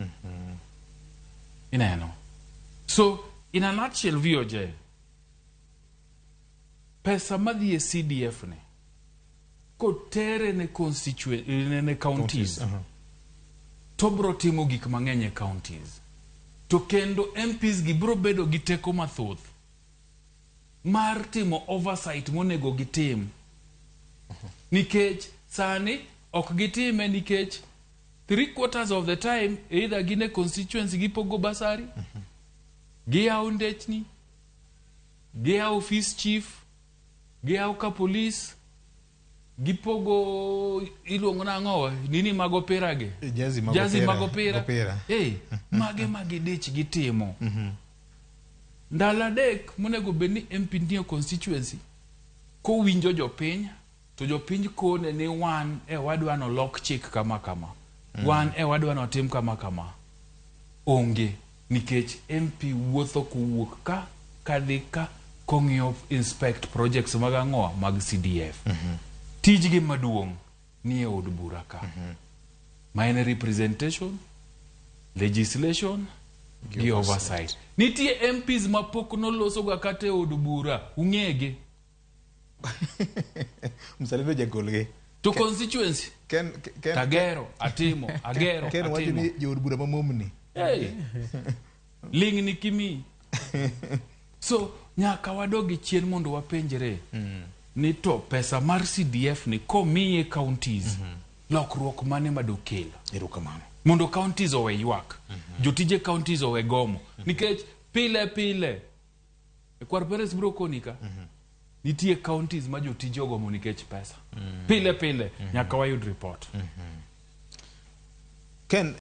Mm -hmm. Ineno. So, in a nutshell, VOJ, pesa madhi e CDF ne, kotere ne constituent, ne, ne counties, counties. Uh -huh. to bro timo gik mang'eny e counties. To kendo MPs gi bro bedo gi teko mathoth mar timo oversight monego gitim. Uh -huh. Nikech sani ok gitime nikech three quarters of the time either gin e constituency gipogo basari mm -hmm. giyawo ndechni giyawo office chief giyawo ka police gipogo iluongo nang'owa nini mag opirage eh, jazi mag jazi mag opira hey, eh, mage ma gidich gitimo mm -hmm. ndalo adek monego bed ni mp nie constituency kowinjo jopiny To jopiny kone ni wan e wadwa ni olok chik kama kama, mm. wan e wadwa ni otim kama kama. Onge nikech MP wuotho kowuok ka kadhi ka kong'iyo inspect projects mag ang'owa mag CDF. Mm -hmm. Tijgi maduong' ni e od bura ka. Mm -hmm. Ma en representation, legislation, gi oversight. Nitie MPs ma pok nolosoga kata e od bura, ung'ege. Mzalendo jagolgi. To constituency. Ken, ken, Tagero, atimo, agero, ken, atimo. Ken wajini jood bura mamomni. Hey. Ling ni kimi. so, nyaka wadogi chien mondo wapenjre. Mm. Ni to pesa mar CDF ni komiye counties. Mm -hmm. Lokruok mane madokelo. Erukamano. Mondo counties owe ywak. Mm -hmm. Jotije counties owe gomo. Mm -hmm. Nikech pile pile. E kwar Perez biro koni ka. Mm -hmm. Nitie counties ma jotije ogomo nikech pesa. Mm -hmm. Pile pile mm -hmm. nyaka wayud report. Mm -hmm. Ken